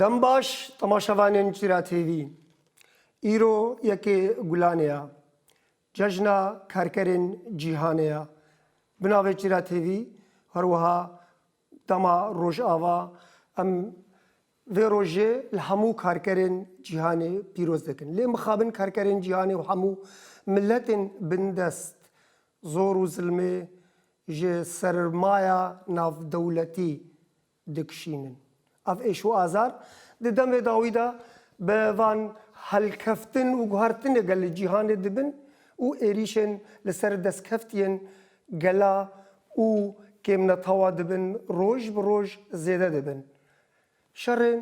Dem baş temaşevanên Cîra TV. Îro yekê Gulanê ya. Cejna Kerkerên Cîhanê ya. Bi navê Cîra TV her wiha dema Rojava em vê rojê li hemû karkerên cîhanê pîroz dikin. Lê mixabin karkerên cîhanê û hemû miletên bindest zor û zilmê ji sermaya navdewletî dikişînin. Ev êş û azar di demê dawî de bi van helkeftin û guhertinê gel li cîhanê dibin û êrîşên li ser destkeftiyên gela û kêmnetawa dibin roj bi roj zêde dibin. Şerên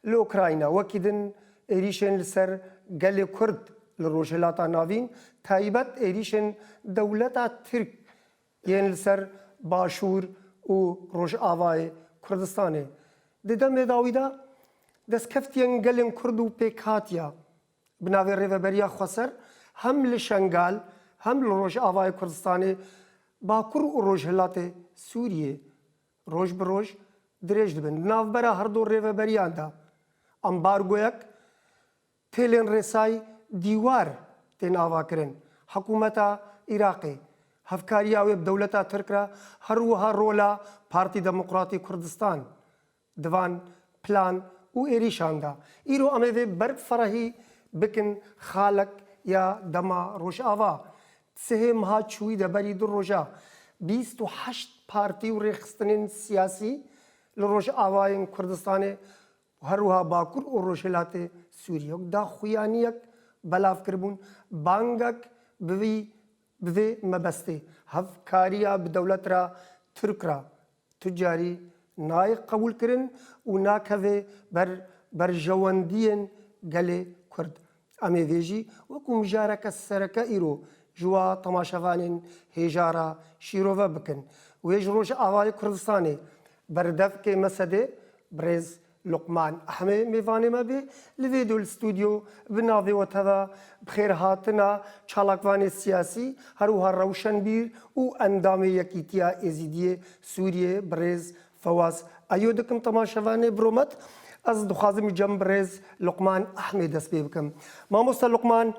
li Ukrayna wekî din êrîşên li ser gelê Kurd li Rojhilata Navîn, taybet êrîşên dewleta Tirk Yên li ser Başûr û Rojavayê Kurdistanê di demê dawî de destkeftiyên gelên Kurd û pêkhatiya bi navê Rêveberiya Xweser hem li Şengal hem li Rojavayê Kurdistanê, Bakur û Rojhilatê Sûriyê roj bi roj dirêj dibin. Di navbera herdu rêveberiyan de ambargoyek Pêlên Rêsay Dîwar tên avakirin. Hikûmeta Iraqê hevkariya wê bi dewleta Tirk re her wiha rola Partî Demokratî Kurdistan di van plan û êrîşan da. Îro em ê vê berb ferahî bikin xalek ya dema Rojava. Sihê meha çûyî de berî du roja bîst û heşt partî û rêxistinên siyasî li Rojavayên Kurdistanê û her wiha Bakur û Rojhilatê Sûriyê wek daxuyaniyek belav kiribûn, bangek bi vî bi vê mebestê hevkariya bi dewlet re Tirk re tu carî nayê qebûlkirin û nakeve ber berjewendiyên gelê Kurd. Em ê vê jî wekû mijareke sereke îro ji wa temaşevanên hêjara şîrove bikin. Wê ji Rojavayê Kurdistanê berdevkê me sedê birêz Luqman Ehmê mêvanê me bê li vê do li studyo bi navê we teve bixêrhatina çalakvanê siyasî herwiha rewşenbîr û endamê Yekîtiya Êzîdiyê Sûriyê birêz Fewaz, Ayo dikim temaşevanê biromet. Ez dixwazim îca min bi rêz Luqman Ehmê dest pê bikim. Mamoste Luqman,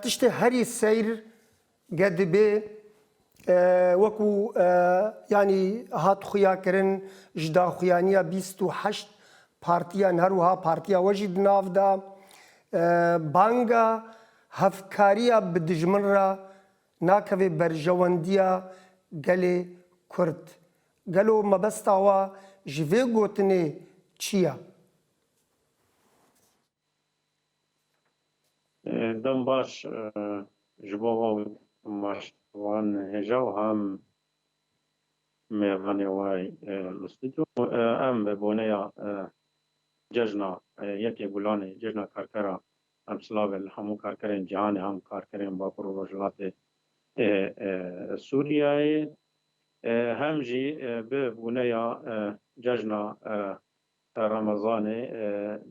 tiştê herî seyr ge dibê wekû yanî hat xuya kirin ji daxuyaniya bîst û heşt partiyan her wiha partiya we jî di nav de banga hevkariya bi dijmin re Nakeve berjewendiya gelê Kurd. Gelo mebesta we ji vê gotinê çi ye? Dem baş ji bo hom baş wan hêja û hem mêvanê we li stûdyo. Em bi boneya cejna Yekê Gulanê, cejna karkera Em silavê li hemû karkerên cîhanê hem karkerên Bakur û Rojhilatê Sûriyeyê hem jî bi bûneya cejna Remezanê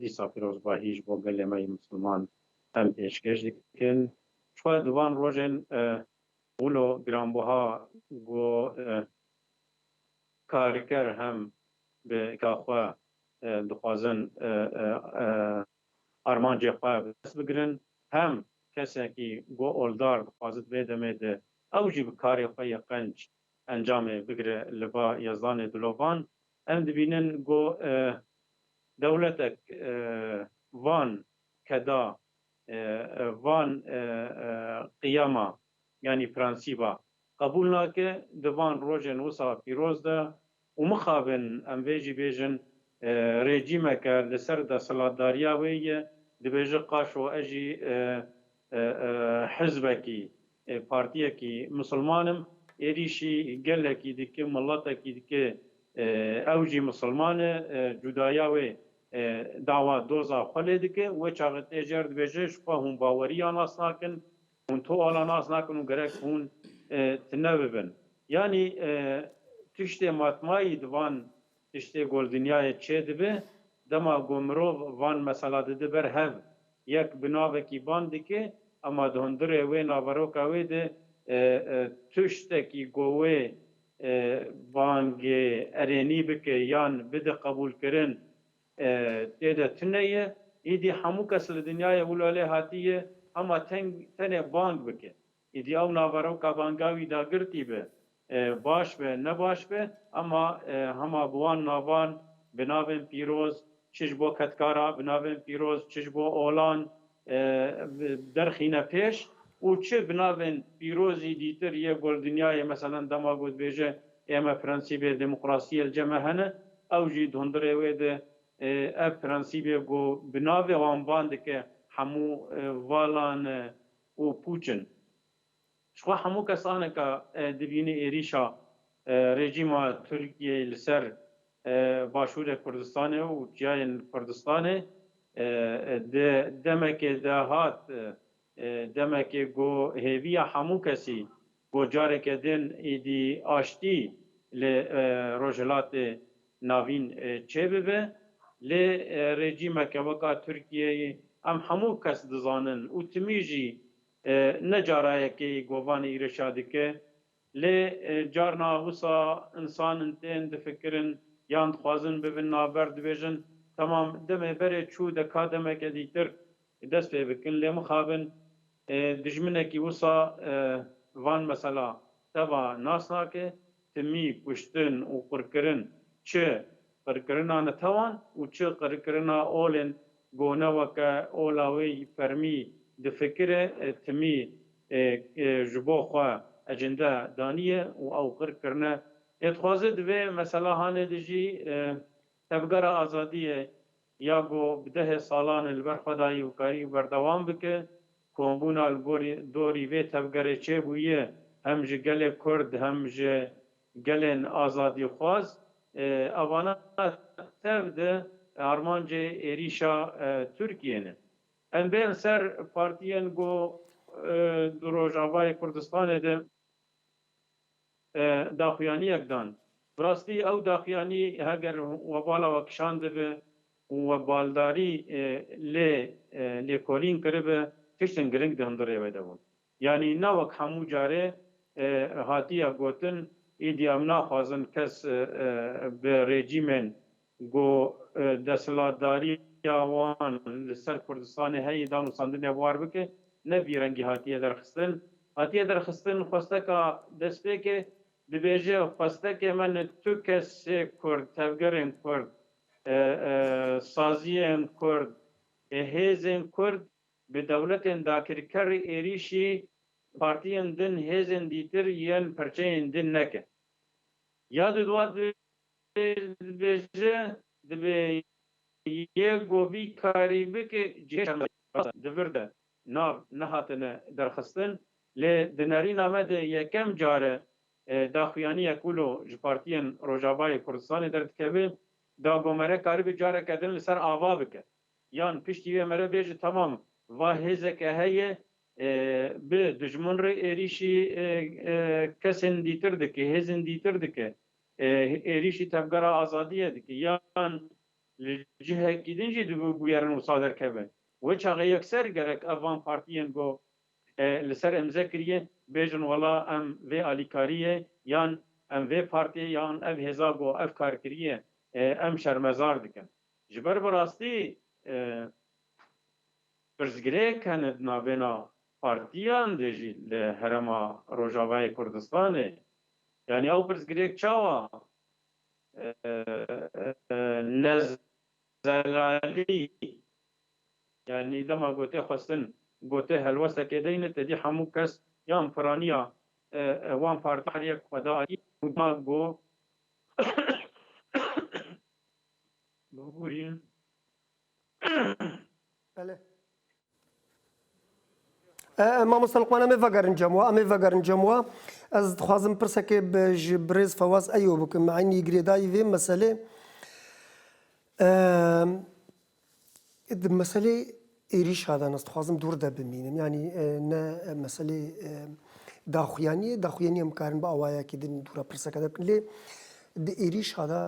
dîsa pîrozbahî ji bo gelê me yê Misliman em pêşkêş dikin. Xwe di van rojên wilo giranbuha ku karker hem bi ka xwe dixwazin armancê xwe bi dest bigirin, hem kesekî ku oldar dixwazit vê demê de ew jî bi karê xwe yê qenc encamê bigire li ba Yezdanê Dilovan. Em dibînin ku dewletek van keda, van qiyama yanî prensîba qebûl nake, di van rojên wisa pîroz de Û mixabin em vê jî bêjin rejîmeke li ser desthilatdariya wê ye, dibêje qaşo ez jî hizbekî, partiyekî misilman im, êrîşî gelekî dike, miletekî dike, ew jî misilman e, cudaya wê dawa doza xwe lê dike, wê çaxê tê jer dibêje ji xwe hûn bawerî ya nas nakin, Hûn to ala nas nakin û gerek hûn ti nebibin. Yanî tiştê matmayî di van tiştê goldinyayê çê dibe, dema ku mirov van mesela dide ber hev, yek bi navekî bang dike ema di hundirê wê naveroka wê de tiştekî ku wê bangê erênî bike yan bide qebûlkirin Tê de tune ye. Îdî hemû kes li dinyayê wilo lê hatiye hema tenê bang bike. Îdî ew naveroka banga wî da girtî be, baş be, ne baş be ema hema bi wan navan, bi navên pîroz, çi ji bo Ketkara, bi navên pîroz, çi ji bo olan, derxîne pêş û çi bi navên pîrozî dîtir yê gol dinyayê meselen dema ku dibêje ê me prensîbê demokrasiyê li cem me hene ew jî dondirê wê di ev prensîbê ku bi navê wan van dike hemû valan û pûç in. Ji xwe hemû kesaneke dibîne êrîşa rejîma Tirkiyeyê li ser Başûrê Kurdistanê û çiyayên Kurdistanê di demekê de hat, demekê ku hêviya hemû kesî bo careke din êdî aştî li Rojhilatê Navîn çêbibe. Lê rejîmeke weka Tirkiyeyê em hemû kes dizanin û timî jî Ne cara yekê govan îreşa dike, lê carna wisa insan in tên difikirin yan dixwazin bibin navber dibêjin temam demê berê çû de ka demeke dîtir dest pê bikin lê mixabin dijminekî wisa van mesela teva nas nake. Timî, kuştin û qirkirin çi qirkirina netewan û çi qirkirina olên gone weke ola wê yî fermî difikire timî ji bo xwe ecinde daniye û ew qirkirine tê dixwaze di vê meselahanê de jî tevgera azadiyê ya ku bi dehê salan e li ber xwe dayî û karî û berdewam bike, kombûna li gorî dorî vê tevgerê çêbûye hem ji gelê Kurd hem ji gelên azadîxwaz ê evana tev di armancê êrîşa Tirkiyê ne. Em bên ser partiyên ku di Rojavayê Kurdistanê de. daxuyaniyek dan. Bi rastî ew daxuyanî heger we bala we kişandibe û we baldarî lê lêkolîn kiribe tiştên giring di hundirê wê de bûn. Yanî ne wek hemû carê hatiye gotin, Îdî em naxwazin kes bi rejîmên Got, Desthilatdariya wan li ser Kurdistanê heyî da nûsandinê war bike, ne vî rengî hatiye derxistin. Hatiye derxistin xwesteka destpêkê, dibêje xwestekê me ne tu kesê Kurd, tevgerên Kurd, saziyên Kurd, hêzên Kurd bi dewletên dakirker êrîşî partiyên din, hêzên dîtir yên perçeyên din neke. Ya di duwa di Dê dibêje dibê yê ku vî karî bike cihê şermezarî ye. Di vir de nav nehatine derxistin lê di nerîna me de yekem car e daxuyaniyek wilo ji partiyên Rojavayê Kurdistanê derdikeve. Dagomere karîbe careke din li ser ava bike yan piştî wê mere bêje temam va hêzeke heye bi dijmin re êrîşî kesên dîtir dike, hêzên dîtir dike êrîşî Tevgera Azadiyê dike yan li cihekî din jî dibû bûyerin wisa derkeve. Wê çaxê yekser gerek ev van partiyên ku li ser îmze kiriye bêjin wela em vê alîkariyê yan em vê partiyê yan ev hêza ku ev kar kiriye em şermezar dikin. Ji ber bi rastî pirsgirêk hene di navêna partiyan de jî li Herêma Rojavayê Kurdistanê Yanî ew pirsgirêk çawa lez zelalî yanî dema ku tê xwestin gotê helwestekê deyne tedî hemû kes yan piranîya wan partikariyek xwe da erî û da ku bibûrîn Bele. Mamosta Luqman em ê vegerin cem wa, em ê vegerin cem wa. Ez dixwazim pirsekê ji birêz Fewaz Eyo bikim. Eynî girêdayî vê meselê. Di meselê êrîşa de ez dixwazim dûr de bimînim. Yanî ne meselê daxuyaniyê, daxuyaniyê em karin bi awayekî din dûra pirseke de bikin. Lê di êrîşa de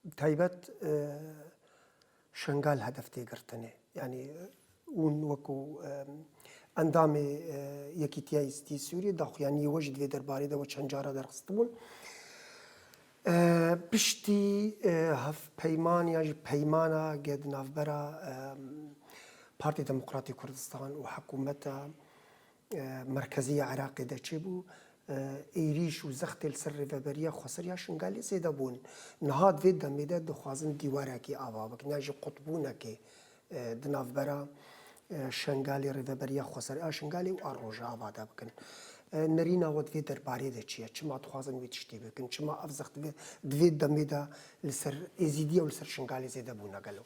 Bi taybet Şengal hedef tê girtinê. Yanî hûn wekû endamê Yekîtiya Êzidîyê Sûriyê daxuyaniyê we jî di vê derbarê de we çend cara derxistibûn. Piştî hevpeyman yan jî peymana ke di navbera Partê Demokratê Kurdistan û hikûmeta Merkeziya Iraqê de çêbû, êrîş û zextê li ser Rêveberiya Xweseriya Şingalê zêde bûn. Niha di vê demê de dixwazin dîwarekî ava bikin yan jî qutbûnekê di navbera Şengalê, Rêveberiya Xweseriya Şingalê û a Rojava de bikin. Nerîna we di vê derbarê de çi ye? Çima dixwazin wê tiştî bikin? Çima ev zext di vê demê de li ser Êzîdiya û li ser Şingalê zêde bûne gelo?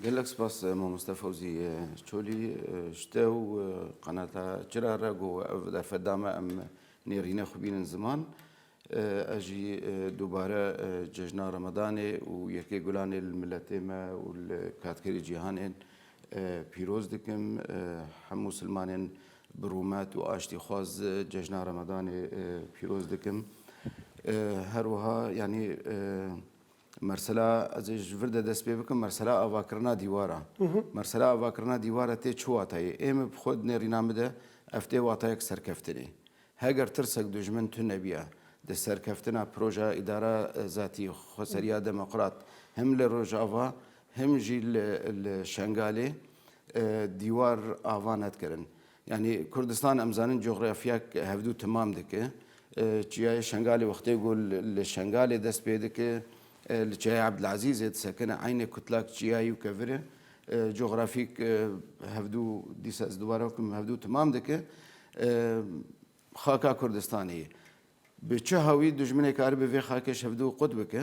Gelek spas Mamoste Fewzî Çolî ji te û qenata çira re ku ev derfet da me em nêrîne xwe bînin ziman. Ez jî dubare cejna Remedanê û Yekê Gulanê li miletê me û li katkerî cîhanê pîroz dikim. Hemû silmanên bi rûmet û aştîxwaz cejna Remedanê pîroz dikim. Her wiha yanî Mersela ez ê ji vir de dest pê bikim mersela avakirina dîwar a. Mersela avakirina dîwar a tê çi watayê? Ê min bi xwe dinêrîna min de ev tê watayek serkeftinê. Heger tirsek dijmin tune nebîya di serkeftina proja îdara zatî xweseriya demoqrat him li Rojava him jî li Şengalê dîwar ava ne dikirin. Yanî Kurdistan em zanin coxrafyek hevdû timam dike. Çiyayê Şengalê wextê ku li Şengalê dest pê dike, li Çiyayê Ebdilezîzê disekine eynê kutlak çiyayî û kevir e. Coxrafîk hevdû dîsa ez dubare bikim hevdû timam dike. Xaka Kurdistanê ye. Bi çi hawî dijminê karibe vê xakê ji hevdû qut bike?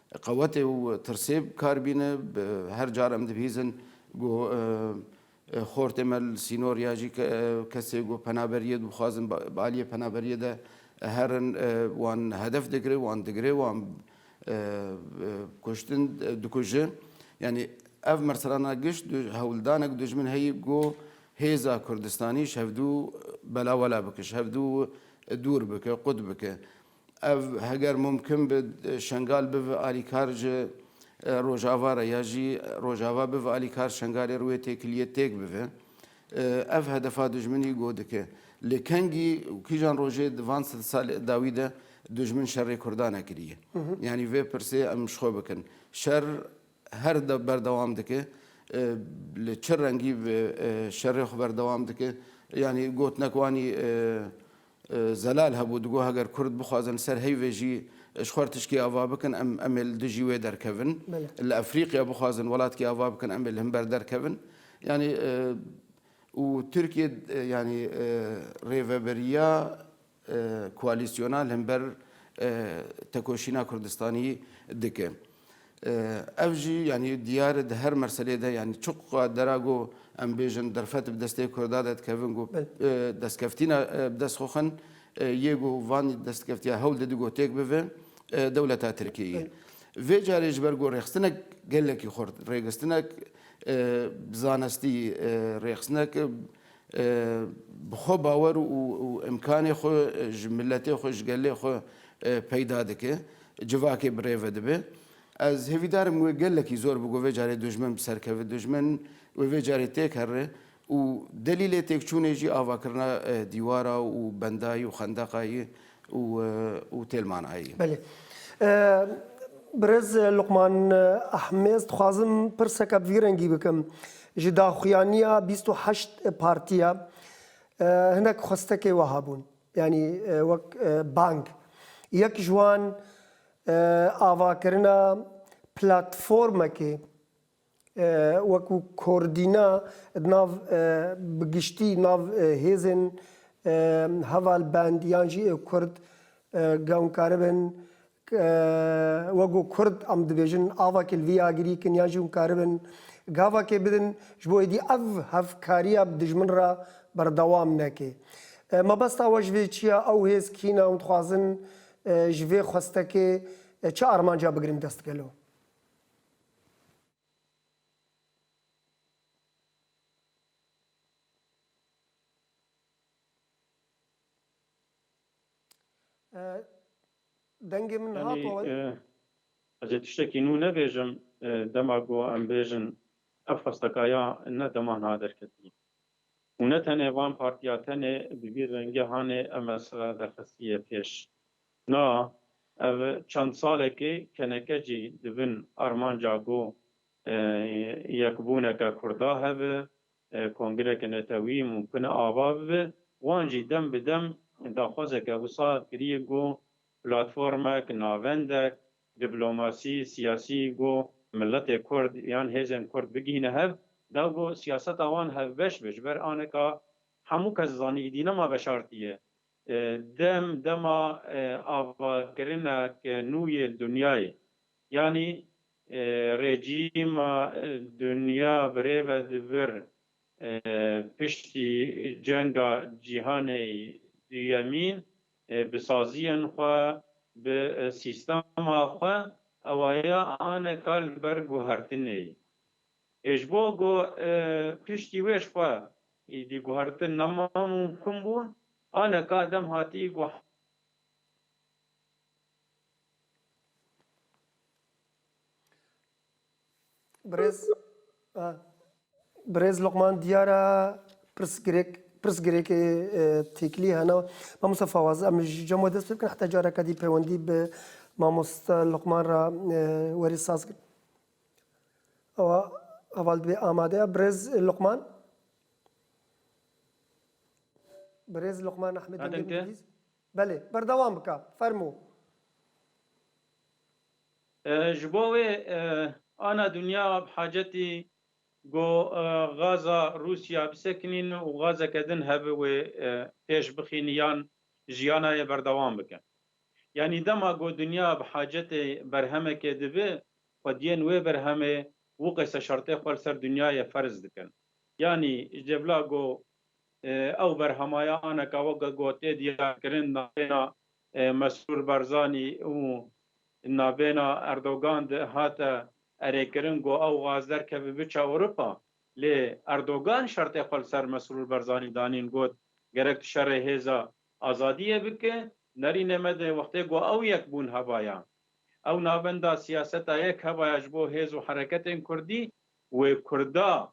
Qewetê û tirsê bi kar bîne. Bi her car em dibihîzin ku xortê me li sînor ya jî kesê ku penaberiyê dibixwazin bi aliyê penaberiyê de herin wan hedef digire, wan digire, wan kuştin dikuje. Yanî ev merserana giş du hewldanek dijmin heye ku hêza Kurdistanî ji hevdu belawela bike, ji hevdu dûr bike, qut bike. Ev heger mumkin bi Şengal bive alîkar ji Rojava re ya jî Rojava bive alîkar Şengalê re wê têkiliyê têk bive. Ev hedefa dijminî go dike. Li kengî û kîjan rojê di van sed salê dawî de dijmin şerê Kurdan e kiriye. Yanî vê pirsê em ji xwe bikin. Şer Her de berdewam dike. Li çi rengî şerê xwe berdewam dike. Yanî gotinek wanî zelal hebû. Digot heger kurd bixwazin li ser heyvê jî ji xwe re tiştî ava bikin em em ê li dijî wê derkevin. Li Efrîqya bixwazin welatkî ava bikin em ê li hin ber derkevin. Yanî û Tirkiyê yanî rêveberiya Koalîsyona li hember tekoşîna Kurdistanî dike. Ev jî yanî diyar e di her merselê de yanî çi qadera ku em bêjin derfet bi destê Kurda de dikevin ku destkevtîna bi dest xwe xin yê ku van destkevtiya hewl didin ku têk bive dewleta Tirkiyê ye. Vê carê ji ber ku rêxistinek gelekî xurt, rêxistinek bi zanistî, rêxistinek bi xwe bawer û îmkanê xwe ji miletê xwe, ji gelê xwe peyda dike, civakê bi rê ve dibe. Ez hêvîdar im wê gelekî zor bigo vê carê dojmen bi ser keve, dojmen wê vê carê têk herre û delîlê têkçûnê jî avakirina dîwara û bendayî û xendeqa ye û û têl manayî. Belê. Birêz Luqman Ehmêz dixwazim pirseke bi vî rengî bikim. Ji daxuyaniya bîst û heşt partiya hinek xwestekê wiha bûn. Yanî wek bang. Yek ji wan avakirina platformekê Wekû kordîna di nav bi giştî nav hêzên heval bend yan jî ê kurd gewn karibin wekû kurd em dibêjin avakê li vî agirî kin yan jî hûn karibin gavakê bidin ji bo êdî ev hevkariya bi dijmin re berdewam neke. Mebesta we ji vê çi ye? Ew hêz kî ne û dixwazin ji vê xwestekê çi armanca bigirin destgelo? Dengê min hat we. Ez ê tiştekî nû nebêjim, dema ku em bêjin ev xwestekaya ne dema niha derketî û ne tenê van partiya tenê bi vî rengê hanê MSF derxistî yê pêş. Na, ev çend salekê keneke jî di bin armanca ku yekbûneke Kurda hebe, kongreke netewî mûmkin e ava bibe, wan jî dem bi dem daxwazeke wisa kiriye ku platformek, navendek, diplomasî, siyasî ku miletê Kurd yan hêzên Kurd bigihîne hev, da ku siyaseta wan hevbeş be, ji ber anika hemû kes zanî îdî nema veşartî ye, Dem dema avakirina ke nû yê dinyayê yanî rejîma dinya birêve di vir piştî cenga cîhanê duyemî bi saziyên xwe bi sîstema xwe ewaya ane kar li ber guhertinê Ê ji bo ku piştî wê ji xwe êdî guhertin namumkin bû, aneka dem hatî ku Birêz Birêz Luqman diyar e pirsgirêk pirsgirêkê têkilî hene. Mamosta Fawaz em ji cem we dest pê bikin heta careke dî peywendî bi mamosta Luqman re werî saz Ewa heval dibê amade ya birêz Luqman. Birêz Luqman Ehmed Dengê Adem te? Mingilîz. Belê, berdewam bike. Fermo. Ji bo wê ana dinya bi hacetî ku gaza Rûsya bisekinîn û gazeke din hebe wê pêş bixîn yan jiyana yê berdewam bike. Yanî dema ku dinya bi hacetê berhemekê dibe, xwediyên wê berhemê wû qeysa şertê xwe li ser dinyayê ferz dikin. Yanî ji dê bila ku ew berhemaya aneka weke ku tê diyarkirin navbêna Mesrûr Barzanî û navbêna Erdogan de hate erêkirin ku ew gaz derkeve biçe Ewropa. Lê Erdogan şertê xwe li ser Mesrûr Barzanî danîn got, Gerek tu şerê hêza Azadiyê bike, nerîne me dê wextê ku ew yekbûn heva ya. Ew navenda siyaseta yek heva ya ji bo hêz û hereketên kurdî, wê kurda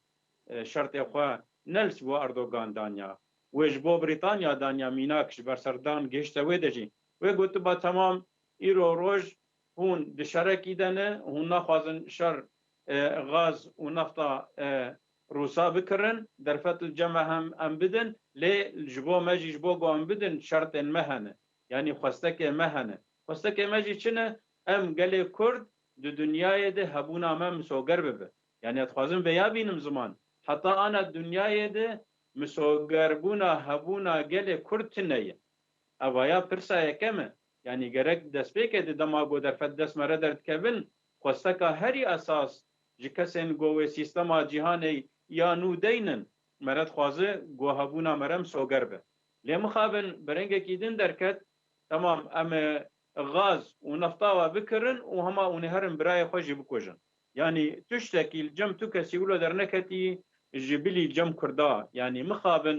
şertê xwe nel ji bo Erdogan danya, wê ji bo Brîtanya danya mînak ji ber serdan gihişte wê de jî wê gotiba temam îro roj Hûn di şerekî de ne, hûn naxwazin şer gaz û nefta Rûsa bikirin, derfet li cem e hem em bidin, lê ji bo me jî ji bo ku em bidin şertên me hene, yanî xwestekê me hene. Xwestekê me jî çi ne? Em gelê Kurd di dinyayê de hebûna me misoger bibe. Yanî ez dixwazim vê ya bînim ziman, heta ana dinyayê de misogerbûna hebûna gelê Kurd tune ye. Eva ya pirsa yekem e, Yanî gerek bi destpêkê di dema ku derfet dest me re derdikevin, xwesteka herî esas ji kesên ku wê sîstema cîhanê ya nû deyn in, me re dixwaze ku hebûna me re misoger be. Lê mixabin bi rengekî din derket, Tamam em ê gaz û nefta we bikirin û hema hûn ê herin birayê xwe jî bikujin. Yanî tiştekî li cem tu kesî wilo derneketî ji bilî cem kurda. Yanî mixabin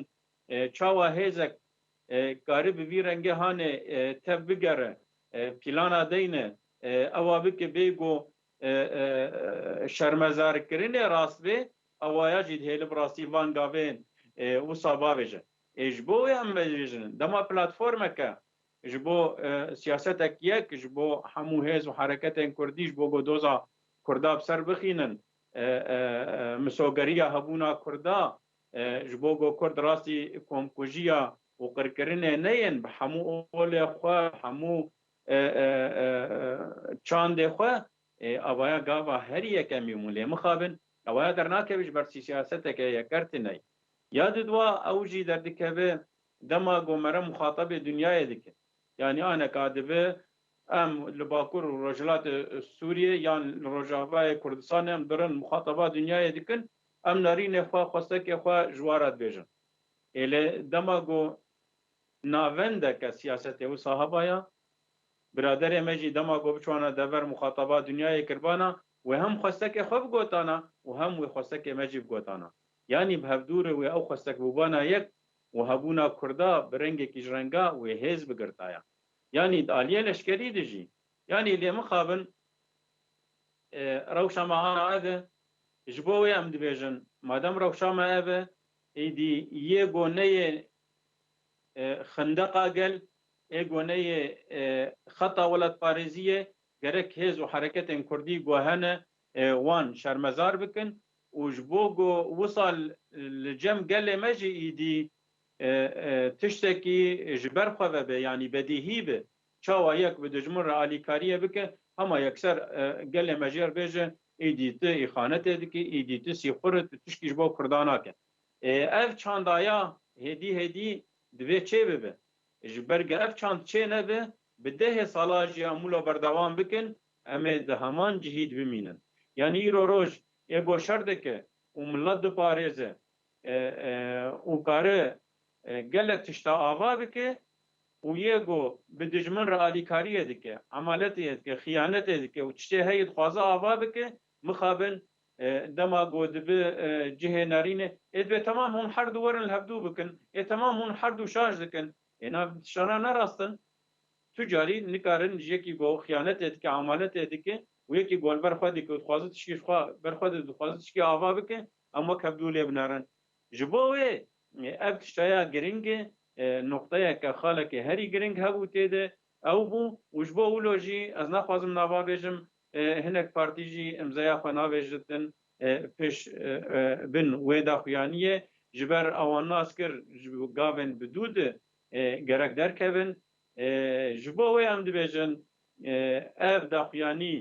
çawa hêzek Karî bi vî rengê hanê tev bigere pîlana deyne ewa bike bê go şermezarkirinê rast bê ewaya jî dihêle bi rastî van gavên wisa bavêje. Ê ji bo wê em vejîjin dema platformeke ji bo siyasetek yek ji bo hemû hêz û hereketên kurdî ji bo go doza kurda bi ser bixînin misogeriya hebûna kurda Ji bo ku Kurd rastî komkujiya û qirkirinê neyên bi hemû olê xwe, bi hemû çandê xwe ê avaya gava herî yekemî hûn lê mixabin awaya dernakeve ji ber sîyaseteke yeker tine ye. Ya didwa ew jî derdikeve dema ku mere muxatabê dinyayê dike. Yanî aneka dibe em li Bakur û Rojhilatê Sûriyê yan li Rojavayê Kurdistanê em durin muxataba dinyayê dikin Em narînê xwe, xwesekê xwe ji wa re dibêjin. Ê lê dema ku navendeke siyasetê wisa heva ya, biraderê me jî dema ku biçûana dever muxataba dinyayê kiribana, wê hem xwesekê xwe bigotana û hem wê xwesekê me jî bigotana. Yanî bi hevdûrê wê ew xwesekbûbana yek û hebûna kurda bi rengekî ji renga wê hêz bigirtaya. Yanî di aliyê leşkerî de jî Yanî lê mixabin rewşa me ana ev e. Ji bo wê em dibêjin madem rewşa me ev e, êdî yê goneyê xindeqa gel, ê goneyê xeta welatparêzî ye, gerek hêz û hereketên kurdî guhe ne wan şermezar bikin û ji bo ku wisa li cem gelê me jî êdî tiştekî ji ber xwe ve be yanî bedîhî be. Çawa yek bi dijmin re alîkariyê bike, hema yekser gelê mejêr bêje îdî tu îxanetê dikî, îdî tu sîxur î, tu tişkî ji bo kurda nake. Ev çandaya hêdî hêdî divê çê bibe. Ji ber ge ev çand çê nebe, bi dehê salan jî em wilo berdewam bikin, em ê di heman cihî de bimînin. Yanî îro roj ê goşer dike û milet diparêze û kare Gelek tişta ava dike û yê ku bi dijmin re alîkariyê dike, emaletê yê dike, xiyanetê dike û tiştê heyî dixwaze ava bike, mixabin dema ku dibi cihê nerînê ê divê temam hûn her du werin li hevdu bikin, ê temam hûn her du şaş dikin. Hêna tiştana ne rast in. Tu carî nikarin ji yekî ku xiyanetê dike, emaletê dike û yekî ku li ber xwe dike û dixwaze tiştî ji xwe ber xwe dide, dixwaze tiştî ava bike em wek hevdu lê binerin. Ji bo wê ev tiştaya girîng e, noqteyeke xaleke herî girîng hebû tê de ew bû û ji bo wilo jî ez naxwazim nava bêjim, hinek partî jî îmzeya xwe navêjritin pêş bin wê daxuyaniyê ji ber awan nas kir ji gavên bi dû de gerek derkevin. Ji bo wê em dibêjin ev daxuyanî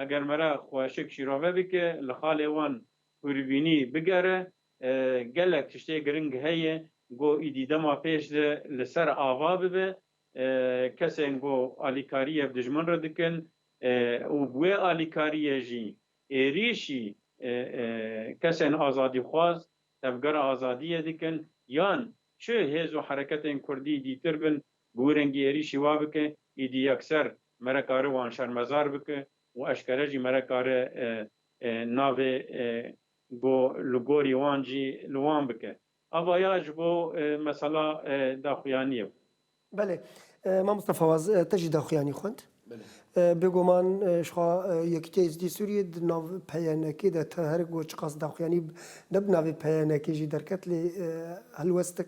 Eger me re xweşik şîrove bike, li xalê wan hûrîbînî bigere, gelek tiştê giring heye ku îdî dema pêş de li ser ava bibe. Kesên ku alîkariyê bi dijmin re dikin û bi wê alîkariyê jî êrîşî kesên azadîxwaz, tevgera azadiyê dikin yan çi hêz û hereketên kurdî dîtir bin, Bi wî rengî êrîşî wa bike, îdî yekser mere kare wan şermezar bike û eşkere jî mere kare navê ku li gorî wan jî li wan bike. Ava ya ji bo mesela daxuyaniyê bû. Belê. Mamosta Fawaz, te jî daxuyanî xwend. Bêguman jixwe Yekîtiya Êzidî Sûriyê di nav PYNKê de te her ku çiqas daxuyanî ne bi navê PYNKê jî derket lê helwestek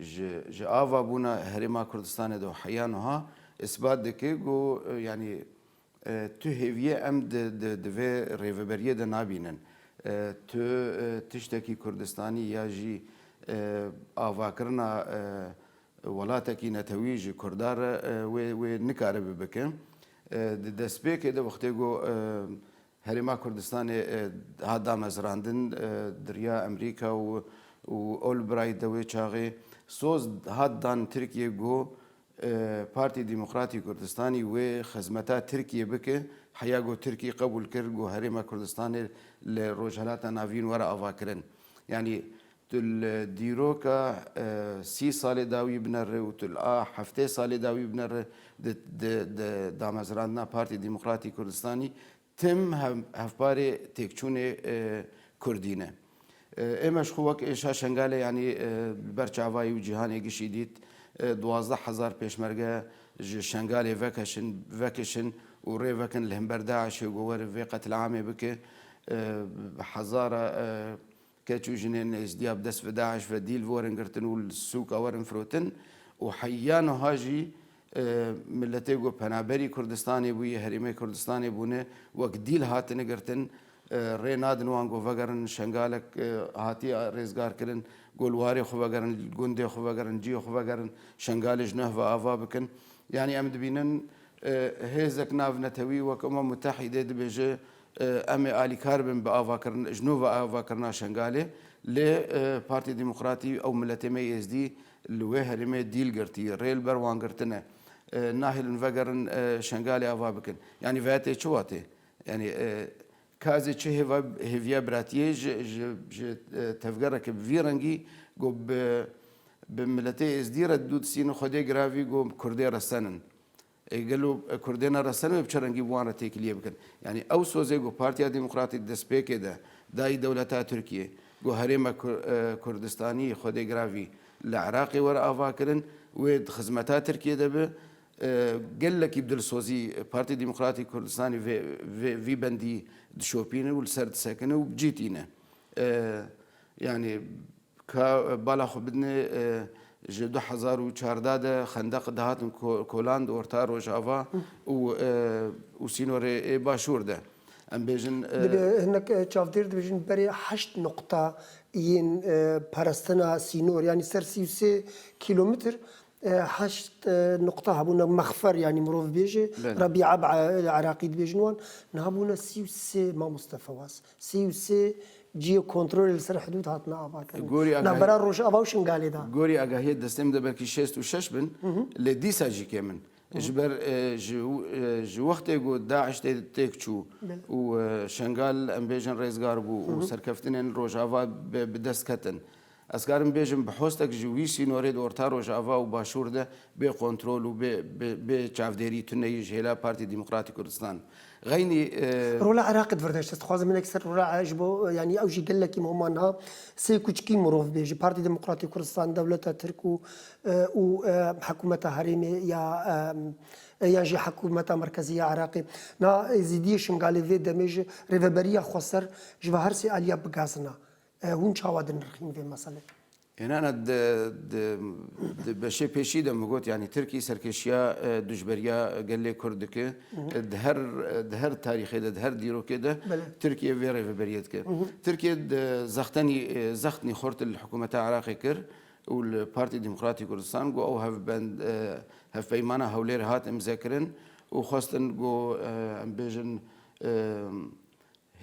Ji ji ava bûna Herêma Kurdistanê de heya nuha îsbat dike ku yanî tu hêviyê em di di di vê rêveberiyê de nabînin. Tu tiştekî Kurdistanî ya jî avakirina welatekî netewî ji Kurda re wê wê nikaribi bike. Di destpêkê de wextê ku Herêma Kurdistanê hat damezrandin, diriya Amerîka û Olbright de wê çaxê soz hat dan Tirkiyê ku Partî Demokratî Kurdistanî wê xizmeta Tirkiyê bike, heya ku Tirkî qebûl kir ku Herêma Kurdistanê li Rojhilata Navîn were avakirin. Yanî Tu li dîroka sî salê dawî bine re û tu li a heftê salê dawî bine re di damezrandina Partê Demokratî Kurdistanî tim hevparê têkçûnê Kurdî ne. Ême ji xwe wek êşa Şengale yanî li ber çavayî û cîhanê gişî dît duwazdeh hezar pêşmerge ji Şengalê vekeşin vekişin û rê vekin li himber DAIŞê ku were vê qetlîamê bike hezara Keç û jinên nêzdîya bi dest ve DAIŞ ve dîl werin girtin û li sûka werin firotin û heya niha jî miletê ku penaberî Kurdistanê bûye, herêmê Kurdistanê bûne wek dîl hatine girtin. Rê nadin wan ku vegerin Şengalek hatiye rêzgarkirin ku li warê xwe vegerin, gundê xwe vegerin, cihê xwe vegerin, Şengalê ji neh ve ava bikin. Yanî em dibînin hêzek navnetewî wek Umam Mutehîdê dibêje Em ê alîkar bin bi avakirin ji nû ve avakirina Şengalê lê Partiyê Demokratî ew miletê me Êzdî li wê herêmê dîl girtî rê li ber wan girtin e. Nahêlin vegerin Şengalê ava bikin. Yanî veetê çi watê? Yanî KAZê çi hêva hêviya biratiyê ji tevgera ke bi vî rengî got bi miletê Êzdî re dû disînin xwedê giravî got kurdê re senin. Ê gelo kurdên a re serme bi çi rengî bi wan re têkiliyê bikin? Yanî ew sozê ku Partiya Demokratîk di destpêkê de dayî dewleta Tirkiyê ku herêma Kurdistanî Xwedê Giravî li Iraqê were avakirin wê di xizmeta Tirkiyê de be gelekî bi dilsozî Partî Demokratîk Kurdistanî vê bendî dişopîne û li ser disekine û bi cî tîne. Yanî Ka bala xwe bidinê ji du hezar û çardeh de xendeq dihatin kolan di orta rojava û û sînorê ê başûr de. Em bêjin. Divê hinek çavdêr dibêjin berê heşt noqta yên parestina sînor yanî ser sî û sê kîlomitr heşt noqta hebûne mexfer yanî mirovbêjê, Rabî Eb'e li Iraqî dibêjin wan. Niha bûne sî û sê mamoste Fewaz. Sî û sê cîyê kontrolê li ser hidûd hatine avakirin navbera Rojava û Şingalê de. Gorî agahiyê destê min de belkî şêst û şeş bin lê dîsa jî kêm in. Ji ber ji wextê ku DAIŞ tê têk çû û Şengal em bêjin rêzgar bû û serkeftinên Rojava bi dest ketin. Ez karim bêjim bi hostek ji wî sînorê di orta rojava û başûr de bê kontrol û bê bê çavdêrî tuneyî ji hêla Partî Demokratî Kurdistan xeynî. Rola Iraqê di vir de ji dest dixwazim hinek ser rola ji bo yanî ew jî gelekî muhima niha sê kuçikî mirov bê ji Partî Demokratî Kurdistan, dewleta Tirk û û hikûmeta herêmê ya yan jî hikûmeta merkezî ya Iraqê. Niha êzîdiyê Şingalê vê demê ji rêveberiya xweser ji vi her sê aliya bigazina. Hûn çawa dinirxîn vê meselê? Înana di beşê pêşî de min got yanî Tirkî serkêşiya dijberiya gelê Kurd dike. Di her tarîxê de, di her dîrokê de Tirkiye vê rêveberiyê dike. Tirkiye zextenî zextnî xurt li hikûmeta Iraqê kir û li Partî Demokratî Kurdistan got ew hevbend hevpeymana Hewlêrê hat imzekirin û xwestin got em bêjin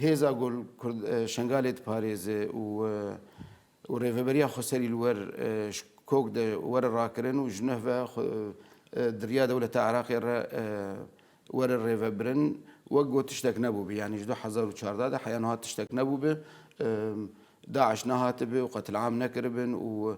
Hêza Gul Kurd Şengalê diparêze û rêveberiya xwe serî li wer ji kok de were rakirin û ji nuh ve xwe diriya dewleta Iraqê re were rêvebirin wek got tiştek nebûbû yanî ji du hezar û çardeh de heya niha tiştek nebûbû DAIŞ nehatibû û qetil'am nekiribûn û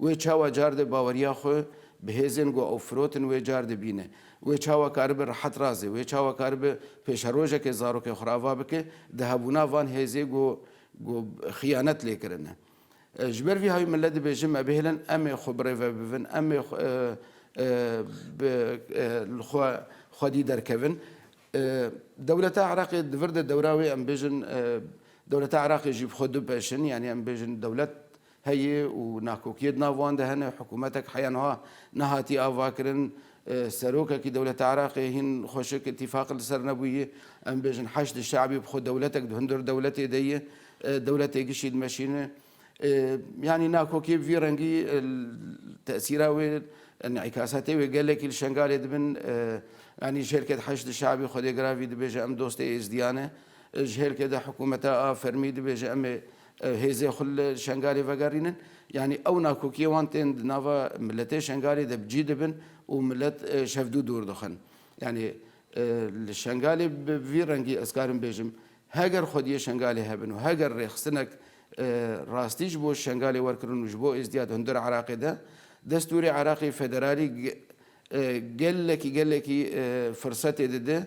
Wê çawa car de baweriya xwe bi hêzên ku ew firotin wê car dibîne. Wê çawa karibe rehet razê, wê çawa karibe pêşerojekê zarokê xwe re ava bike di hebûna van hêzê ku ku xiyanet lê kirine. Ji ber vî hawî milet dibê ji me bihêlin em ê xwe birêve bibin, em ê bi li xwe xwedî derkevin. Dewleta Iraqê di vir de dewra wê em bêjin dewleta Iraqê jî bi xwe dibpeşin, yanî em bêjin dewlet heye û nakokiyê di nav wan de hene. Hikûmetek heya niha nehatiye avakirin. Serokekî dewleta Iraqê hîn xweşik îtîfaqê li ser nebûyî. Em bêjin Heşdî Şe'bî bi xwe dewletek di hundir dewletê de ye. Dewletê gişî dimeşîne. Yanî nakokiyê bi vî rengî tesîra wê, înîkasetê wê gelekî li Şengalê dibin. Yanî ji hêlkê de Heşdî Şe'bî xwedê giravî dibêje em dostê êzdîyan e. Ji hêlkê de hikûmeta a fermî dibêje em ê hêzê xwe li Şengalê vegerînin yanî ew nakokiyê wan tên di nava miletê Şengalê de bi cî dibin û milet şevdû dûr dixin. Yanî li Şengalê bi vî rengî ez karim bêjim heger xwediyê Şengalê hebin û heger rêxistinek rastî ji bo Şengalê werkirin û ji bo êzdiyat hundir Iraqê de destûrê Iraqê federalî gelekî gelekî firsetê dide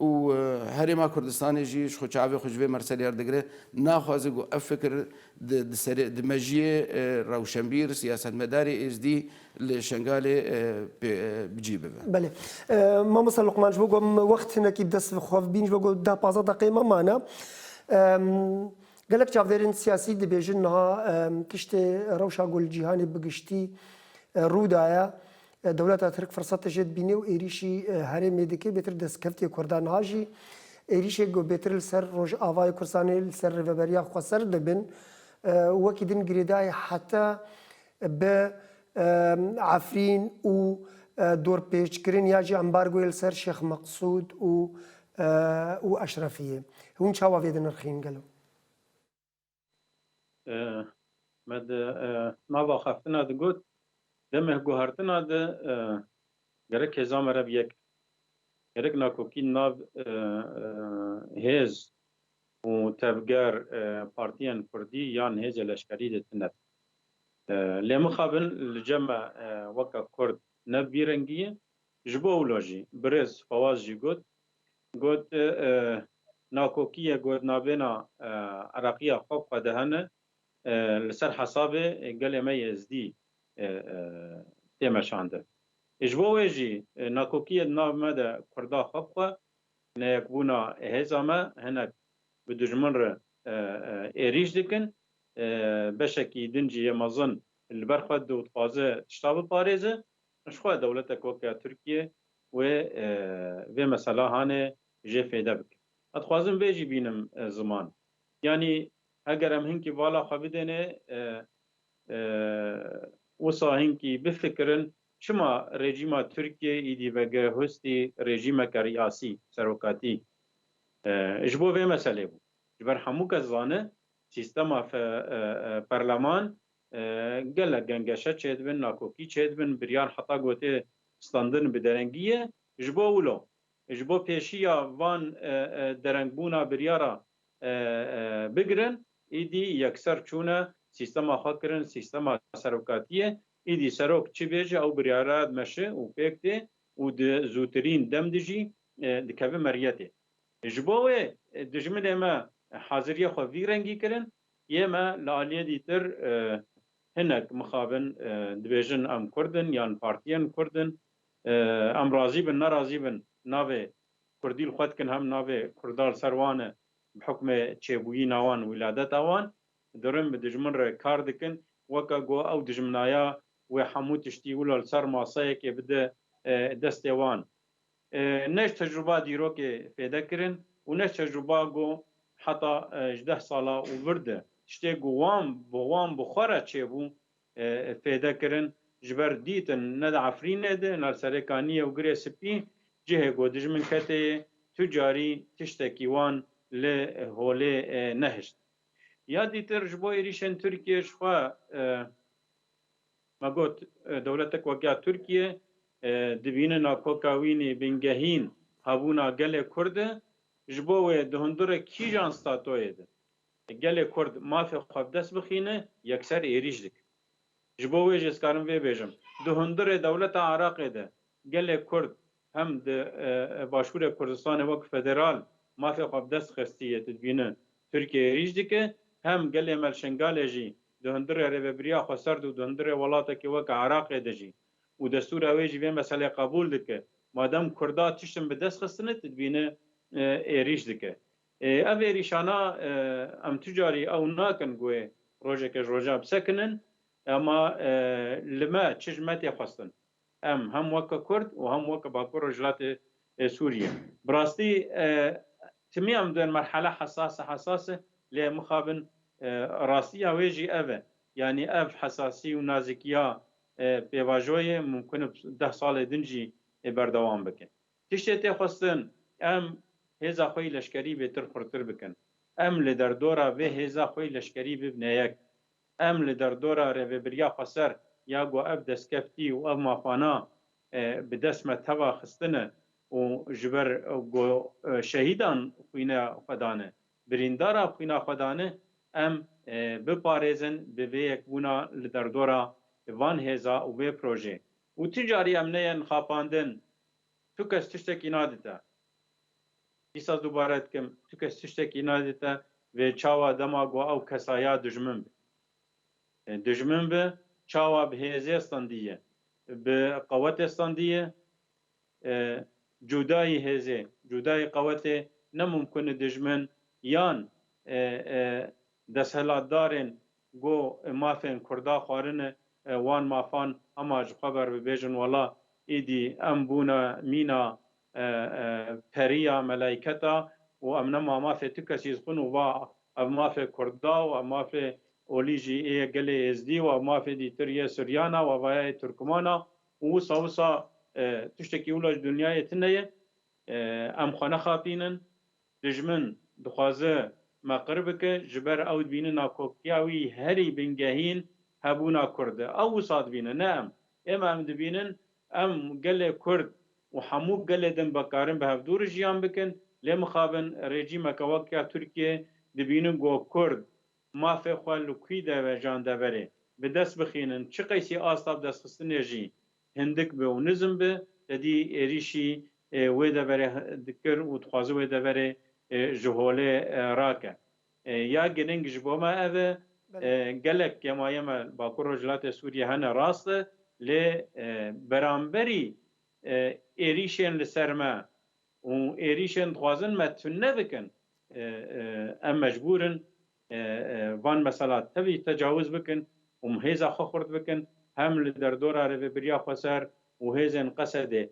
Û Herêma Kurdistanê jî ji xwe çavê xwe ji vê merselê herdigire, naxwaze ku ev fikir di mejiyê rewşenbîr, siyasetmedarê êzdî li Şengalê cî bibe. Belê. Mamosta Luqman ji bo ku em wext hinekî dest bi xwe bîn ji bo ku deh pazdeh deqeyê me mane. Gelek çavdêrên siyasî dibêjin niha tiştê rewşa ku li cîhanê bi giştî rû daye, Dewleta Tirk firsat te jê dibîne û êrîşî herêmê dike, bêtir destkevtiyê Kurdan niha jî êrîşê ku bêtir li ser Rojavayê Kurdistanê li ser rêveberiya xwe ser dibin û wekî din girêdayî heta bi Efrîn û dorpêçkirin ya jî embargoyê li ser Şêx Meqsûd û Eşrefiyê. Hûn çawa vê dinirxîn gelo? Me di nava xeftina de got, demê guhertina de gerek hêza me re bi yek be. Gerek nakokî nav hêz û tevger partiyên kurdî yan hêzê leşkerî de tune be. Lê mixabin li cem me weke kurd ne bi vî rengî ye. Ji bo wilo jî birêz Fawaz jî got, Got nakokîye got navêna Iraqîya xwe bixwedihene li ser hesabê gelê me Êzdî tê meşandin. Ji bo wê jî nakokîye di nav me de Kurda xwe bixwe, neyekbûna hêza me hinek bi dijmin re êrîş dikin, beşekî din jî yê mezin li ber xwe dide û dixwaze tişta biparêze. Min ji xwe dewletek weke Tirkiye wê vê meselahanê jê fêde bike. Ez dixwazim vê jî bînim ziman. Yanî heger em hinkî vala xwe bidênê wisa hinkî bifikirin çima rejîma Tirkiye îdî vege hustî rejîmeke riyasî, serokatî, ji bo vê meselê bû. Ji ber hemû kes zane sîstema perleman Gelek gengeşe çêdibin, nakokî çêdibin, biryar heta gotê standin bi derengî ye. Ji bo wilo, ji bo pêşî ya van derengbûna biryara bigirin, îdî yekser çûne sîstema xwe kirin sîstema serokatiyê. Îdî serok çi bêje ew biryara dimeşi û pêk tê û di zûtirîn dem de jî dikeve meriyetê. Ji bo wê dijminê me haziriyê xwe vî rengî kirin, Yê me li aliyê dîtir hinek mixabin dibêjin em kurd in yan partiyên kurd in. Em razî bin nerazî bin navê kurdî li xwe dikin hem navê kurda li ser wan e bi hukmê çêbûyîna wan wîladeta wan dirin bi dijmin re kar dikin weke ku ew dijminaya wê hemû tiştî wilo li ser maseyekê bide destê wan. Neş tecrûba dîrokê fêde kirin û neş tecrûba ku heta ji deh sala û vir de tiştê ku wan bi wan bi xwe re çêbû fêde kirin. Ji ber dîtin ne di Efrînê de ne li serê Kaniyê û Girê Spî cihê ku dijmin ketê yê tu carî tiştekî wan li holê nehişt. Ya dîtir ji bo êrîşên Tirkiyê ji xwe Me got, dewletek wek ya Tirkiye di bînina kokawînî bingehîn hebûna gelê Kurd de, ji bo wê di hundirê kîjan statoyê de gelê Kurd mafê xwe bi dest bixîne yekser êrîş dike. Ji bo wê jê dikarim vê bêjim, di hundirê dewleta Iraqê de gelê Kurd Hem di Başûrê Kurdistanê wek federal mafê xwe bi dest xistî yê didbîne Tirkiyeyê êrîş dike, hem gelê me li Şengalê jî di hundirê rêvebiriya xweserd û di hundirê welatekî weke Iraqê de jî û destûra wê jî vê meselê qebûl dike. Madem Kurda tiştin bi dest xistine didbîne êrîş dike. Ev êrîşana em tu carî ew nakin ku wê rojeke ji rojan bi sekinin, ema li me çi ji me tê xwestin. Em hem weke Kurd û hem weke Bakur Rojhilatê Sûriyê bi rastî timî em di merhele hesase hesas e lê mixabin rastiya wê jî ev e yanî ev hesasî û nazîkiya pêvajoyê mumkin e deh salê din jî berdewam bike. Tiştê tê xwestin em hêza xweyî leşkerî bêtir xurtir bikin. Em li derdora vê hêza xweyî leşkerî bibne yek. Em li derdora rêvebiriya xweser ya ku ev destkeftî û ev mafana bi dest me teva xistine û ji ber ku şehîdan xwîna xwe dane, birîndaran xwîna xwe dane, em biparêzin bi vê yekbûna li derdora van hêza û vê projê û tu carî em neyên xapandin, tu kes tiştekî nadite. Dîsa dubare dikim, tu kes tiştekî nadî te vê çawa dema ku ew kesa ya dijmin bi. Dijmin bi çawa bi hêzê standî ye, bi qewetê standî ye. Cudayî hêzê, cudayî qewetê ne mumkin e dijmin yan desthilatdarên Go mafên kurda xwarine wan mafan hema ji xwe ver bibêjin wela îdî em bûne mîna periya melayketa û em nema mafê tu kesî xwin û va ev mafê kurda û ev mafê olî jî yê gelê êzdî û ev mafê dîtir yê suryana û ev aya yê turkmana û wisa wisa tiştekî wila ji dunyayê tune ye em xwe nexapînin. Dijmin dixwaze me qir bike, ji ber ew dibîne nakoktiya wî herî bingehîn hebûna Kurd e. Ew wisa dibîne ne em. Êma em dibînin em gelê Kurd û hemû gelê din bikarin bi hev dû re jiyan bikin. Lê mixabin rejîmeke wek ya Tirkiyeyê dibînin ku Kurd mafê xwe li kûî de vejan deverê, bi dest bixînin. Çi qeysî asta bi destxistinê jî Hindik bi û nizm bi, te dî êrîşî wê deverê dikir û dixwaze wê deverê ji holê rake. Ya girîng ji bo me ev e, gelek gemaye me li Bakur Rojhilatê Sûriyê hene rast e, lê beramberî êrîşên li ser me û êrîşên dixwazin me tune bikin, em mecbûr in Van mesela tevî tecawiz bikin û hêza xwe xurt bikin, hem li derdora rêvebiriya xweser û hêzên Qesedê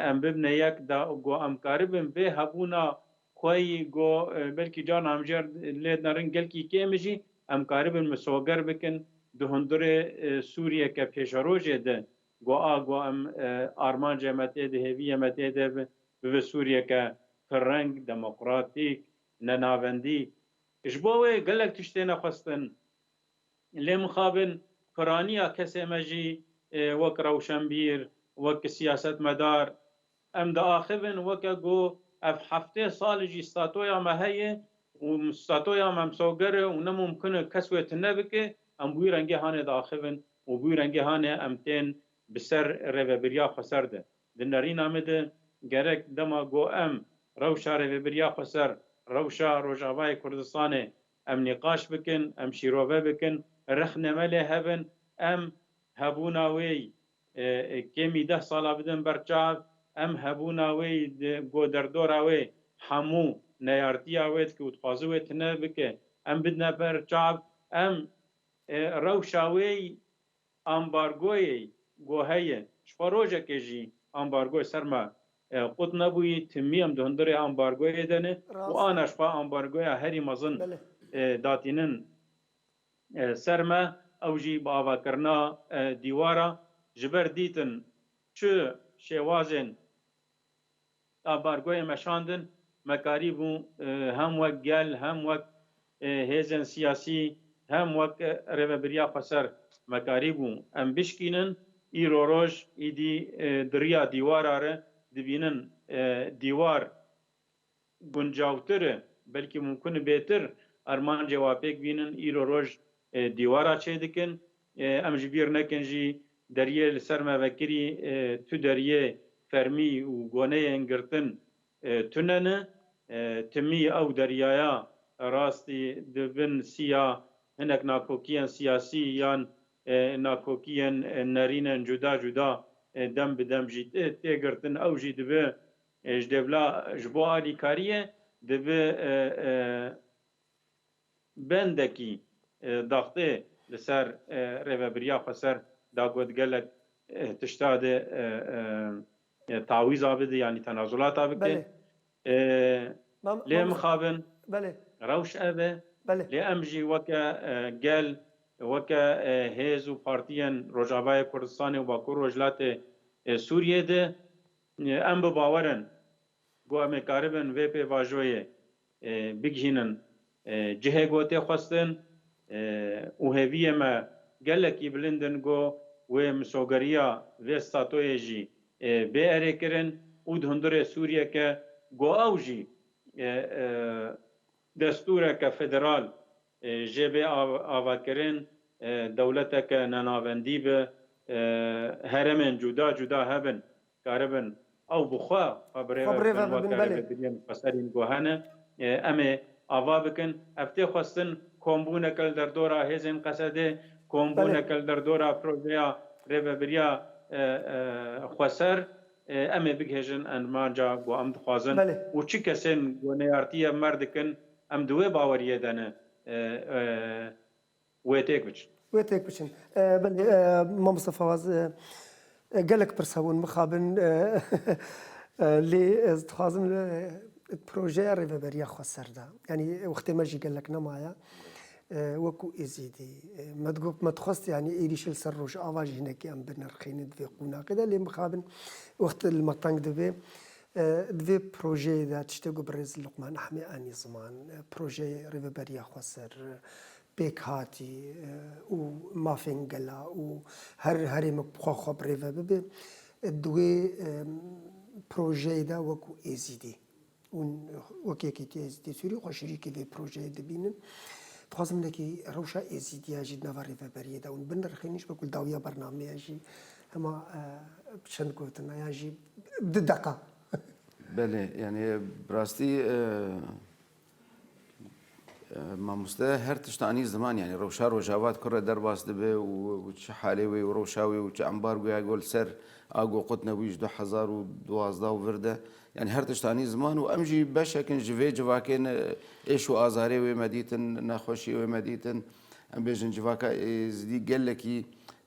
em bibne yek da ku em karibin vê hebûna xweyî ku belkî carna hemjîyar lê nerin gelkî kêm jî em karibin misoger bikin di hundirê Sûriyeke pêşerojê de ku a ku em armancê me tê de hêviyê me tê de bibe Sûriyeke pirreng, demokratîk, nenavendî. Ji bo wê gelek tişt têne xwestin. Lê mixabin piraniya kesê me jî wek rewşenbîr, wek siyasetmedar em diaxivin weke ku ev heftê sal jî statoya me heye û statoya me msoger e û ne mumkin e kes wê tune bike, em bi wî rengê hanê diaxivin û bi wî rengê hanê em tên bi ser rêvebiriya xweser de. Di nerîna me de gerek dema ku em rewşa rêvebiriya xwe ser rewşa Rojavayê Kurdistanê em nîqaş bikin, em şîrove bikin, rexne me lê hebin, em hebûna wê yî kêmî deh sala bidin ber çav, em hebûna wê yî di ku derdora wê hemû neyartiya wê dike û dixwaze wê tune bike em bidine ber çav, em rewşa wê yî Ambargoyê ku heye, ji xwe rojekê jî ambargoyê ser me qut nebûyî. Timî em di hundirê ambargoyê de ne û ana ji xwe ambargoya herî mezin datînin ser me. Ew jî bi avakirina dîwara ji ber dîtin çi şêwazên. Ambargoyê me şandin, me karîbû hem wek gel, hem wek hêzên siyasî, hem wek rêvebiriya xweser me karîbû em bişkînin. Îro roj îdî di riya dîwara re dibînin dîwar guncavtir e, belkî mumkun e bêtir armancê wa pêk bînin, îro roj dîwara çêdikin. Em ji bîr nekin jî deriyê li ser me vekirî tu deriyê fermî û goneyên girtin tune ne. Timî ew deriyaya rastî di bin siya hinek nakokiyên siyasî yan nakokiyên nerînen cuda cuda dem bi dem jî tê girtin. Ew jî dibe Ji dêvla ji bo alîkariyê divê bendekî daxtê li ser rêvebiriya xweser da got gelek tişta dê tawîza bidê yanî tenazulata bike. Lê mixabin rewş ev e lê em jî weke gel, weke hêz û partiyên Rojavayê Kurdistanê û Bakur Rojhilatê Sûriyê de Em bi bawer in ku em ê karibin vê pêvajoyê bigihînin cihê ku tê xwestin û hêviyê me gelekî bilind in ku wê misogeriya vê statoyê jî bê erêkirin û di hundirê Sûriyeke ku ew jî destûreke federal Jê bê avakirin dewleteke nenavendî bi heremên cuda cuda hebin, karibin ew bi xwe xwe birêve bibin weke rêvebiriyên xweserîn ku hene. Em ê ava bikin. Ev tê xwestin kombûneke li derdora hêzên Qesedê, kombûneke li derdora projeya rêvebiriya xweser em ê bigihêjin enmanca ku em dixwazin û çi kesên ku neyartî ev mer dikin Em di wê baweriyê de ne. Wê têk biçin. Wê têk biçin. Belê mamosta Fawaz gelek pirsa bûn mixabin lê ez dixwazim projeya rêveberiya xwe ser de yanî wextê me jî gelek nemaye wekû Êzidî me digot me dixwest yanî êrîşê li ser Rojava jî hinekî em binirxînin di vê qûnaqê de lê mixabin wext li me teng dibe Di vê projeyê de tiştê ku birêz Luqman Ehmê anî ziman, projeyê Rêveberiya Xweser, pêkhatî û mafên gela û her herêmek bi xwe xwe bi rê ve bibe. Di wê projeyê de wekû Êzidî û wek Yekîtiya Êzidî Sûrî xwe şerîkê vê projeyê dibînin. Dixwazim hinekî rewşa Êzîdiya jî di nava rêveberiyê de û binirxînin ji ber ku li dawiya bernameya jî hema bi çend gotin ya jî, Di deqa. Belê, yanî bi rastî mamoste her tişt anî ziman yanî rewşa rojava di kurre derbas dibe û çi halê wê û rewşa wê û çi embargoya gol ser a goqut nebûyî ji du hezar û duwazdeh û vir de yanî her tişt anî ziman û em jî beşek in ji vê civakê ne êş û azarê wê me dîtin, nexweşiyê wê me dîtin. Em bêjin civaka êzidî gelekî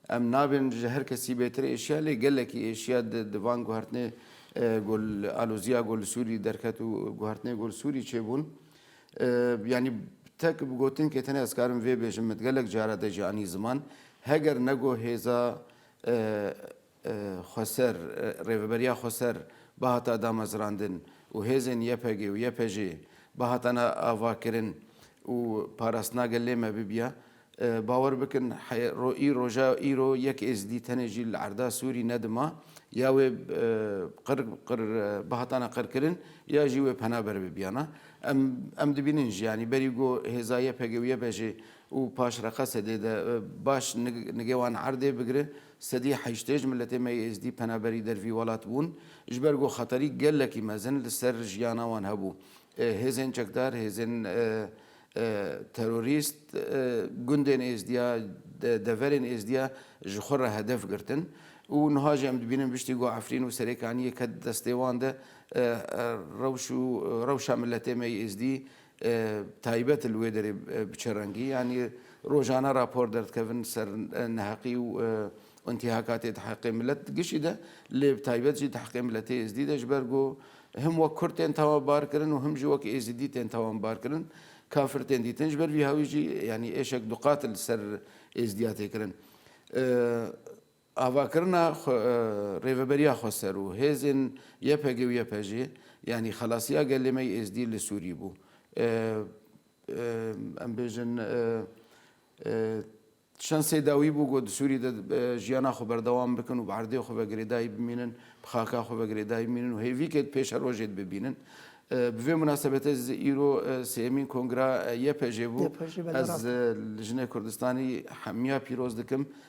em nabên ji her kesî bêtir êşiya lê gelekî êşiya di di van guhertinê gol aloziya gol Sûrî derket û guhertinê gol Sûrî çêbûn. Yanî tek bi gotin kê tenê ez karim vê bêjim min gelek cara de jî anî ziman heger nego hêza Xweser, Rêveberiya Xweser bihata damezrandin û hêzên YPG û YPJ'ê bihatane avakirin û parastina gelê me bibiya. Bawer bikin î roja îro yek Êzidî tenê jî li erda Sûrî ne dima ya wê qir qir bihatane qirkirin ya jî wê pena ber bibiyana. Em em dibînin jî yanî berî ku hêza YPG û YPJ'ê û paşreqa sedê de baş nigê wan erdê bigire, Sedî heştêj miletê me yê Êzdî penaberî der vî welat bûn, ji ber ku xeterî gelekî mezin li ser jiyana wan hebû. Hêzên çekdar, hêzên terorîst gundên Êzdiya, deverên Êzdiya ji xwe re hedef girtin û niha jî em dibînin biştî ku Efrîn û Serêkaniyê ket destê wan de rewş û rewşa miletê me yê Êzdî Taybet li wê derê bi çi rengî? Yanî rojane rapor derdikevin ser neheqî û intîhakatê di heqê milet di gişî de lê bi taybet jî di heqê miletê êzidî de ji ber ku him wek kurd tên tawanbarkirin û him jî wek êzidî tên tawanbarkirin kafir tên dîtin ji ber vî hawî jî yanî êşek duqat li ser êzidiya tê kirin. Avakirina Rêveberiya Xweser û hêzên YPG û YPJ yanî xelasiya gelê me yê Êzdî li Sûrî bû. Em bêjin çend sey dawî bû ku di Sûrî de jiyana xwe berdewam bikin û bi erdê xwe ve girêdayî bimînin, bi xaka xwe ve girêdayî bimînin û hêvîkê dipêşe rojê dibibînin. Bi vê munasebetê ez ê îro sêyemîn kongira YPJ bû. Ez li jinê Kurdistanî hemiya pîroz dikim.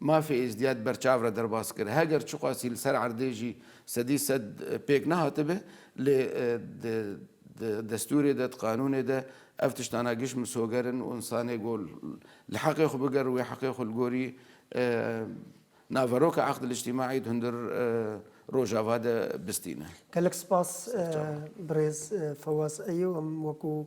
Mafê Êzidîya di ber çav re derbas kir. Heger çiqasî li ser erdê jî sedî sed pêk nehatibe lê di destûrê de, di qanûnê de ev tiştana giş misoger in û însanê ku li heqê xwe biger û wê heqê xwe li gorî naveroka eqdil îctîmaî di hundir rojava de bistîne. Gelek spas birêz Fewaz Eyû. Em wekû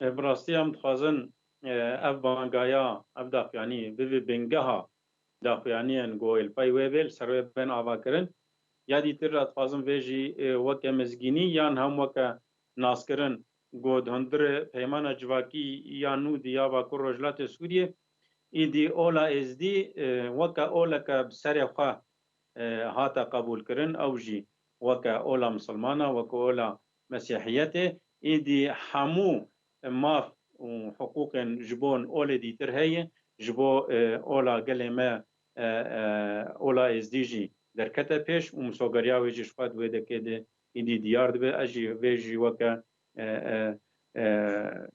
Bi rastî em dixwazin ev bangaya, ev daxuyanî bivî bingeha daxuyaniyên ku li pey wê bê li ser wê bên avakirin. Ya dîtir re dixwazin vê jî weke mizgînî yan hem weke naskirin ku di hundirê Peymana Civakî ya nû Diyarbakir Rojhilatê Sûriyê îdî Ola Êzdî weke oleke bi serê xwe hate qebûlkirin ew jî weke ola misilman e, weke ola Mesîhiyetê êdî hemû maf û hiqûqên ji bo olê dîtir heye, ji bo ola gelê me ola êzdî jî derkete pêş û misogeriya wê jî ji xwe di wê dekê de êdî diyar dibe. Ez jî vê jî weke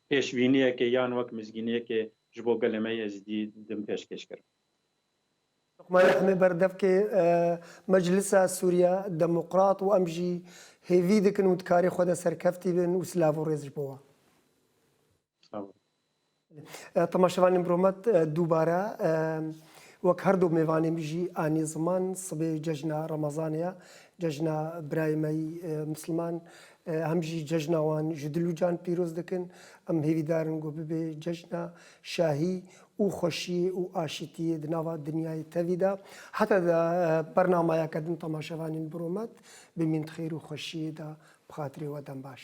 pêşbîniyekê yan wek mizgîniyekê ji bo gelê me êzdî din pêşkêş kirim. Luqman Emê berdevkê Meclisa Sûriya Demokrat û em jî hêvî dikin û dikarê xwe de serkeftî bin û silav û rêz ji bo wan. Tema şevan îmro me dubare wek her du mêvanê min jî anî ziman sibê cejna Remezanê ye, cejna birayê me yî Misliman hem jî cejna wan ji dil û can pîroz dikin. Em hêvîdar in ku bibê cejna şahî û xweşî û aşîtî di nava dinyayê tevî de. Heta di bernamaya ke din temaşevanên biromet bimîn di xêr û xweşîyê de bi xatirê we dem baş.